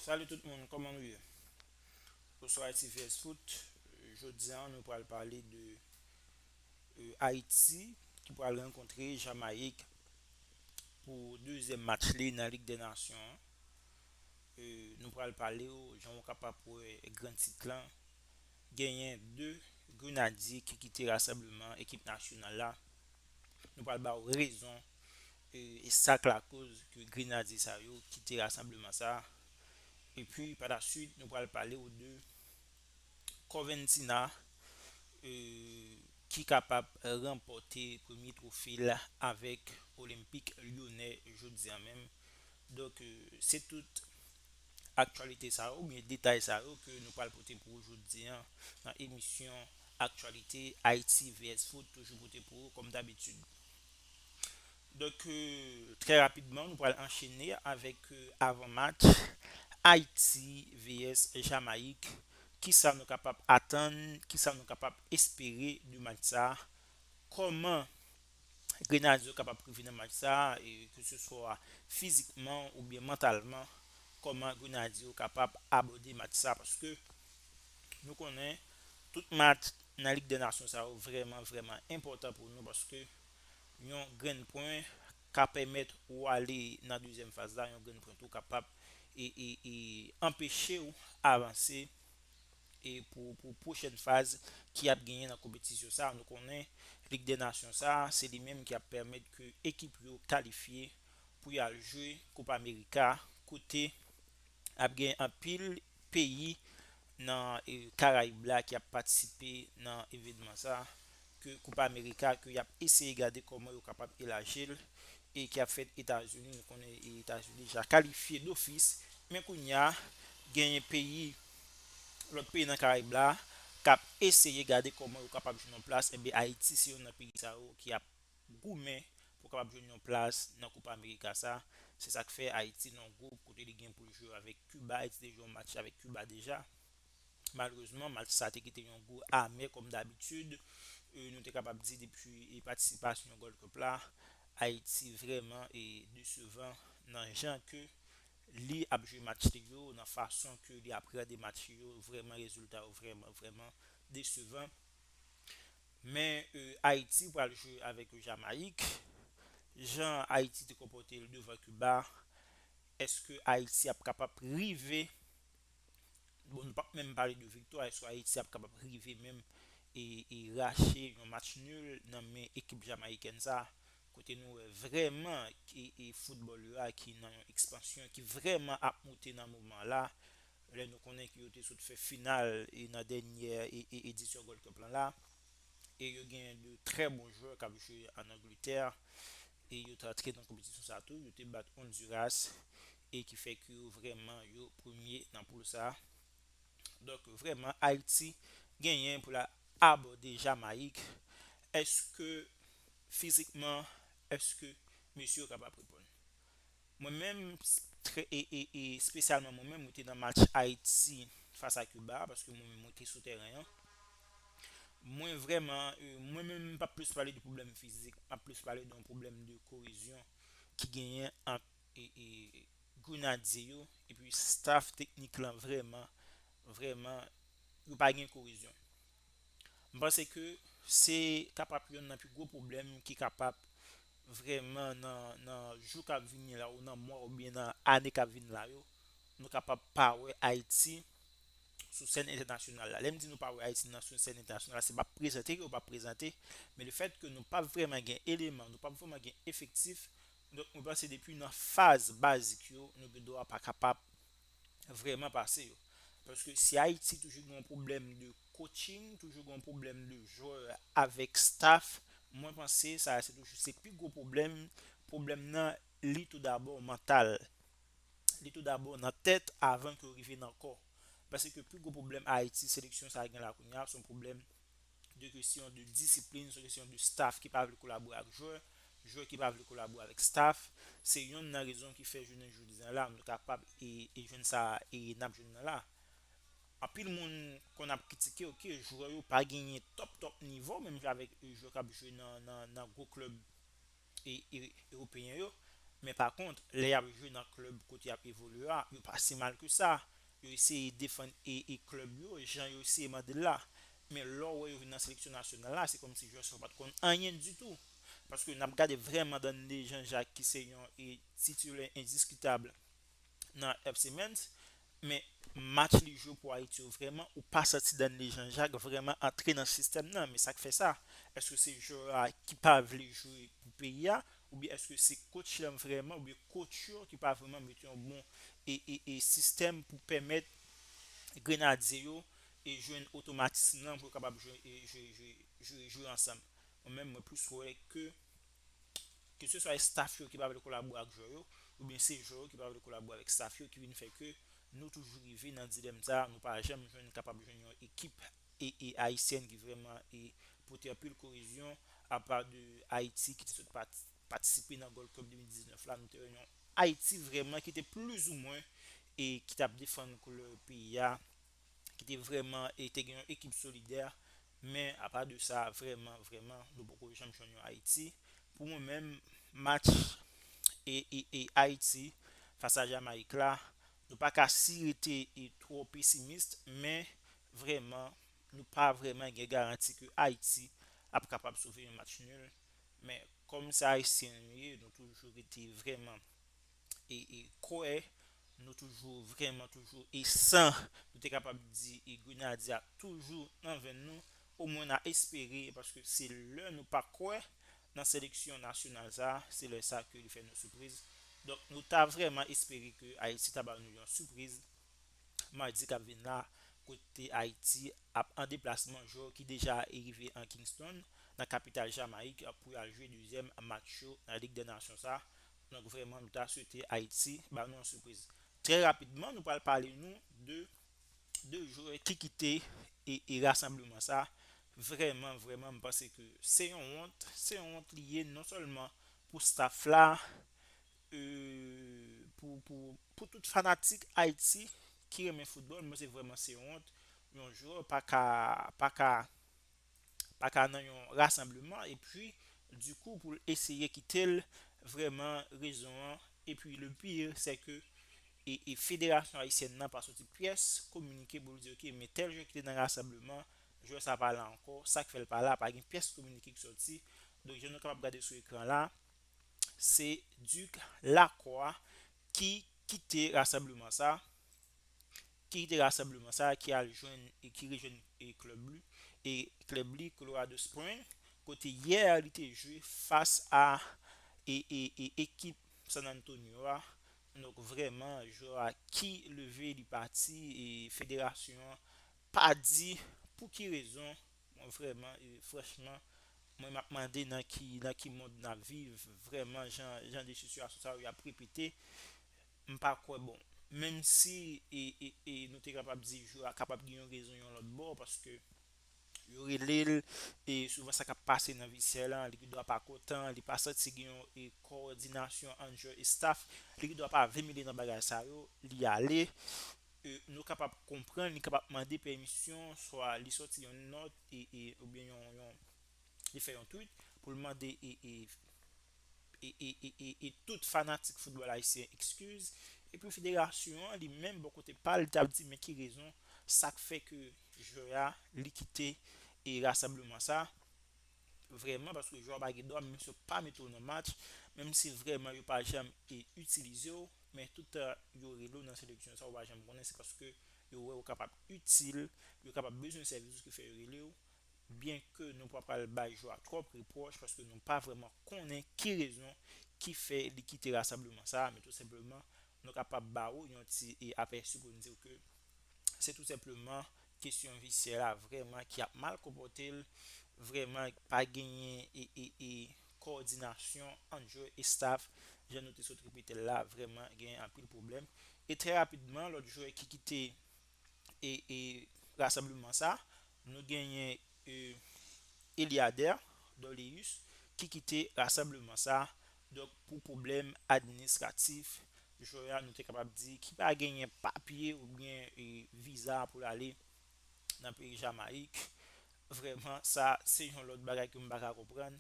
Salut tout moun kòman nou ye Bonswa Haïti vs Foot Jodi an nou pral pale de Haïti ki pral rankontre Jamayik pou dezyèm match li nan Lig dè Nasyon Nou pral pale ou jan ou kapab wè gran tit lan genyen 2 grenadye ki kite rasanbleman ekip nasyonal la Nou pral ba ou rezon e sak lakoz ke grenadye sa yo kite rasanbleman sa e pi pa la swit nou pral pale ou de Corventina ki kapab ranpòte premye twofe l avèk Olympique Lyonnais jodi an menm donk se tout aktyalite sa yo ou byen detay sa yo ke nou pral pote pou ou jodi an nan emisyon aktyalite Haïti vs Foot toujou pote pou ou kòm dabitid. Donk trè rapidman nou pral anchene avèk avan match Ayiti vs Jamayik, kisa nou kapab atann, kisa nou kapab espere de match sa, kòman Grenadye yo kapab rive nan match sa ke se swa fizikman oubyen mantalman, kòman Grenadye yo kapab abòde match sa paske Nou konnen tout match nan Lig dè Nasyon sa yo vrèman vrèman enpòtan pou nou paske yon grenn pwen ka pèmèt ou ale nan dezyèm faz la, yon grenn pwen tou kapab anpeche w avanse pou pwochèn faz ki ap genyen nan konpetisyon sa. Nou konnen Lig dè Nasyon sa se li menm ki ap pèmèt ke ekip yo kalifye pou y al jwe Kopa Amerika kote ap gen anpil peyi nan karayib la ki ap patisipe nan evenman sa ke koupa amerika ke yap eseye gade koman yo kapab elajil e ki ap fèt etazini nou konnen etazini deja kalifye dofis men kounya genyen peyi lòt peyi nan karayib la kap eseye gade koman yo kapab jwenn yon plas enben ayiti se yonn nan peyi sa yo ki ap Goumen pou kapab jwenn yon plas nan Copa America sa, se sak fè Ayiti nan yon gwoup kote li gen pou l jwe avèk Kiba, Ayiti te jwe yon match avèk Kiba deja, malerezman match sa te kite yon gou amè kòm dabitid, nou te kapab di depi patisipasyon Gold Cup la, Ayiti vrèman desevan nan jan ke li ap jwe match li yo, nan fason ke li aprède match li yo, vrèman rezilta yo vrèman vrèman desevan. Men Ayiti pral jwe avèk Jamayik, jan Ayiti te konpòte l devan Kiba, èske Ayiti ap kapab rive, bon nou pap menm pale de viktwa, èske Ayiti ap kapab rive menm e rache yon match nul nan men ekip Jamayikèn sa, kote nou wè vrèman foutbòl yo a ki nan yon ekspansyon, ki vrèman ap moute nan moman la, lè nou konnen ke yo te sot fè final nan dènyè edisyon Gold Cup lan la, e yo gen de trè bon jwè k ap jwe an Angletè, e yo te antre nan konpetisyon sa tou, yo te bat Onduras, e ki fè ke yo vrèman yo premye nan poul sa. Donk vrèman Ayiti genyen pou l al abòde Jamayik, èske fizikman, èske mesye yo kapab reponn? Mwen menm trè e e e spesyalman mwen menm mwen te nan match Ayiti fas a Kiba a paske mwen menm mwen te sou tèren an. Mwen vrèman e mwen menm m p ap plis pale de pwoblèm fizik, m ap plis pale de yon pwoblèm de koezyon ki genyen ant e e Grenadye yo epi staf teknik lan vrèman vrèman yo pa gen koezyon. M panse ke se kapap yonn nan pi gwo pwoblèm ki kapap vrèman nan nan jou kap vini la ou nan mwa oubyen nan ane kap vini la yo nou kapab pa wè Ayiti sou sèn entènasyonal la. Lè m di nou pa wè Ayiti nan sou sèn entènasyonal la se pa prezante ke yo pa prezante men le fèt ke nou pap vrèman gen eleman nou pap vrèman gen efektif donk mwen panse depi nan faz bazik yo nou gen dwa pa kapab vrèman pase yo. Paske si Ayiti toujou gen yon pwoblèm de coaching, toujou gen yon pwoblèm de jwè avèk staff, mwen panse sa a se toujou se pi gwo pwoblèm, pwoblèm nan li tou dabò mantal. Li tou dabò nan tèt avan ke yo rive nan kò. Paske pi gwo pwoblèm Ayiti, seleksyon sa a gen la kounye a, se yon pwoblèm de kesyon de disiplin, se kesyon de staf ki pa vle kolabore ak jwè, jwè ki pa vle kolabore avèk staf, se yonn nan rezon ki fè jounen jodi an la nou kapab e e jwenn sa e nap jwenn nan la. Anpil moun konn ap kritike ok jwè yo pa genyen top top nivo menm jan avèk jwè kap jwe nan nan nan gwo klèb Ewopeyen yo, men pa kont, lè y ap jwe nan klèb kote y ap evolye a, yo pa si mal ke sa. Yo eseye defann klèb yo jan yo eseye mande l la. Men lè w wè yo vin nan seleksyon nasyonal la, se kòmsi jwè sa yo pa t konn anyen ditou. Paske n ap gade vrèman Danley Jean Jacques ki se yon titilè endiskitab. nan FC Metz men match li jwe pou Ayiti yo vrèman ou pa santi Danley Jean Jacques vrèman antre nan sistèm nan men sak fè sa èske se jwè a ki pa vle jwe pou peyi a oubyen èske se coach lan vrèman oubyen coach yo ki pa vrèman mete yon bon e sistèm pou pèmèt grenadye yo e jwenn otomatism lan pou yo kapab jwe jwe jwe jwe ansanm mwen menm mwen plis wè ke keseswa estaf yo ki pa vle kolabore ak jwè yo oubyen se jwè yo ki pa vle kolabore avèk estaf yo ki vin fè ke nou toujou rive nan dilèm sa nou pa janm jwenn kapab jwenn yon ekip ayisyèn ki vrèman pote anpil korezyon apa de Ayiti ki te sot patisipe nan Gold Cup 2019 la nou te wè yon Ayiti vrèman ki te plizoumwen ki tap defann koulè peyi a ki te vrèman e te gen yon ekip solidè men apa de sa vrèman vrèman nou poko janm jwenn yon Ayiti pou mwen menm match e e Ayiti fas a Jamayik la nou pa ka si rete e twò pesimist men vrèman nou pa vrèman gen garanti ke Ayiti ap kapab sove yon match nul men kòm se Ayisyen nou ye nou toujou rete vrèman. kwè nou toujou vrèman toujou e san nou te kapab di grenadye a toujou nan venn nou omwen na espere paske se lè nou pa kwè nan seleksyon nasyonal sa se lè sa ke li fè nou sipriz donk nou ta vrèman espere ke Ayiti ta ba nou yon sipriz madi kap vin la kote Ayiti ap an deplasman jwè ki deja rive an Kingston nan kapital Jamayik pou yal jwe dezyèm match yo nan lig dè nasyon sa. Donk vrèman nou ta swete Ayiti ba nou yon sipriz. Trè rapidman nou pral pale nou de 2 jwè ki kite e rasanbleman sa, vrèman vrèman m panse ke se yon wont, se yon wont li ye non sèlman pou staff la e pou pou pou tout fanatik Ayiti ki renmen foutbòl m panse vrèman se yon wont yon jwè paka paka paka nan yon rasanbleman epi di kou poul eseye kitel vrèman rezon an epi le pire sè ke e federasyon ayisyèn nan pa soti pyès kominike poul di ok men tèl jwè kite nan rasanbleman jwè sa pa la ankò sak fèl pa la pa gen pyès kominike ki soti donk jan nou kapab gade sou ekran la se Duc Lacroix ki kite rasanbleman sa. ki kite rasanbleman sa ki al jwenn e ki rejwenn e klub lu e klub li Colorado Spring kote yè li te jwe fas a e e e ekip San Antonio a donk vrèman jwè a ki leve li pati e federasyon an pa di pou ki rezon mwen vrèman e franchman mwen map mande nan ki nan ki mond nap viv vrèman jan jan de sitiyasyon sa yo yap repete M pa kwè bon. Menm si e e e nou te kapab di jou a kapab gen yon rezon yon lòt bò paske yo rele l e souvan sa k ap pase nan vi sè lan li gen dwa pa kontan li pa santi gen yon e kowòdinasyon ant jwè e staf li gen dwa pa vle mele nan bagay sa yo li ale e nou kapab konprann li kapab mande pèmisyon swa li sòti yon nòt e e oubyen yon yon. li fè yon tweet pou l mande e tout fanatik foutbòl ayisyen ekskiz epi federasyon an li menm bò kote pa l t ap di men ki rezon sa k fè ke jwè a li kite e rasanbleman sa vrèman paske jwè w pa gen dwa menm si yo pa mete w nan match menm si vrèman yo pa janm e itilize w men tout tan yo rele w nan seleksyon sa w pa janm konnen se paske yo wè w kapab itil yo kapab bezwen sèvis ou ki fè yo rele w. Byenke nou pa pral bay jou a twòp repwòch paske nou pa vrèman konnen ki rezon ki fè li kite rasanbleman sa a men tou senpleman nou kapab ba ou yon ti apèsi pou n di w ke se tou senpleman kesyon visyè la vrèman ki ap mal konpòte l vrèman pa genyen kowòdinasyon ant jwè e staf jan nou te sot repete l la vrèman genyen anpil pwoblèm e trè rapidman lòt jwè ki kite e rasanbleman sa, nou genyen Eliader Dorleus ki kite rasanbleman sa donk pou pwoblèm administratif jwè a nou te kapab di ki pa genyen papye oubyen viza pou l ale nan peyi Jamayik vrèman sa se yon lòt bagay ke m pa ka konprann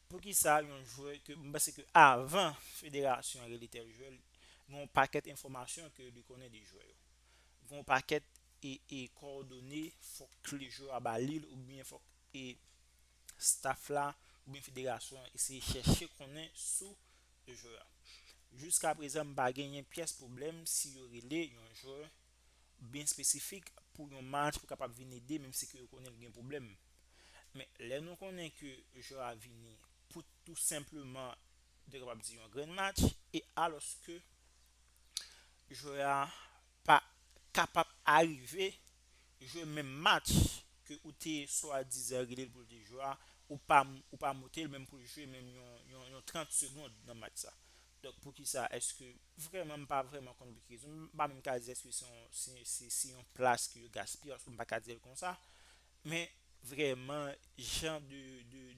poukisa yon jwè ke m panse ke avan federasyon an rele tèl jwè l gen yon pakèt enfòmasyon ke li konnen de jwè yo. gen yon pakèt e kòdone fòk klejou a ba lil oubyen fòk e staf la oubyen federasyon an eseye chèche konnen sou jwè a. Jiska prezan m pa genyen pyès pwoblèm si yo rele yon jwè byen espesifik pou yon match pou kapab vin ede menm si ke yo konnen l gen pwoblèm. Men lè nou konnen ke jwè a vini pou tou senpleman ou te kapab di yon grenn match e alòske jwè a pa kapab arive jwe menm match ke ou te swadizan rele l pou l te jwe a, ou pa ou pa moute l menm pou l jwe menm yon yon yon 30 segond nan match sa. Donk poukisa èske vrèman m pa vrèman konn poukisa m pa menm ka di èske se yon se se se yon plas ke yo gaspiye paske m pa ka di l konsa Men vrèman jan de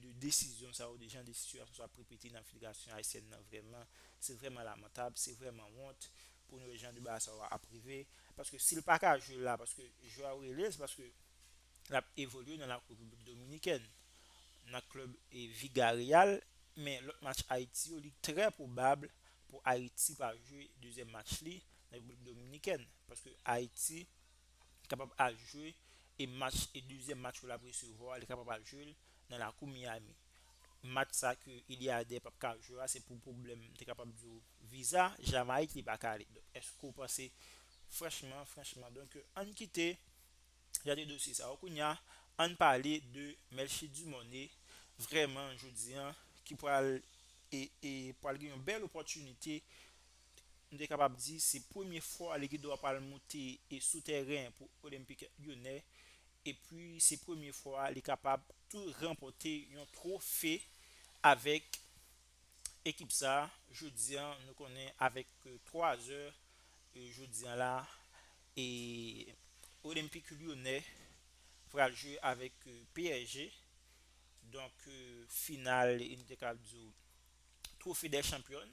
de desizyon sa yo de jan de sitiyasyon sa yo ap repete nan federasyon ayisyèn nan vrèman se vrèman lamantab se vrèman wont pou nou wè jan de bagay sa yo ap rive paske si l pa ka jwe la paske jwè a yo rele l se paske l ap evolye nan la repiblik dominikèn nan klèb vigareyal men lòt match ayiti yo li trè pwobab pou ayiti pa jwe dezyèm match li nan repiblik dominikèn paske ayiti. kapab al jwe e match e dezyèm match ke lap resevwa li kapab al jwel nan lakou Miami match sa ke Eliade pap ka jwe a se pou pwoblèm te kapab diw viza Jamayik li paka ale donk èske ou panse franchman franchman donk ann kite gade dosye sa yo kounya ann pale de Melchie Dumornay vrèman jodi an ki pral e e pral gen yon bèl opòtinite nou te kapab di se premye fwa Ligido a pral moute sou tèren pou Olympique Lyonnais epi se premye fwa li kapab tou ranpòte yon twofe avèk ekip sa jodi an nou konnen avèk 3 zè jodi an la Olympique Lyonnais pral jwe avèk PSG donk final nou te kapab di twofe dè chanpyòn.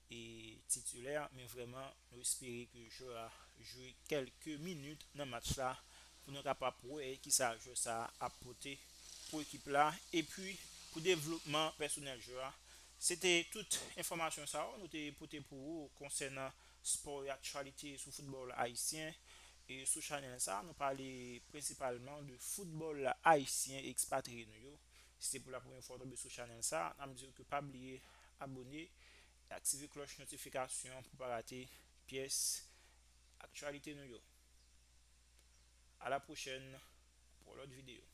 e titulè men vrèman nou espere ke jwè a jwe kelke minit nan match la pou nou kapab wè kisa jwè sa ap pote pou ekip la epi pou devlopman pèsonèl jwè a se te tout enfòmasyon sa yo nou te pote pou ou konsènan spò e aktyalite sou foutbòl ayisyen sou chanèl sa nou pale prensipalman de foutbòl ayisyen ekspatriye nou yo. Si se pou la premye fwa w tonbe sou chanèl sa, nap diw ke pa bliye abone e aktive klòch notifikasyon pou pa rate pyès aktyalite nou yo. A la pwochèn pou yon lòt videyo.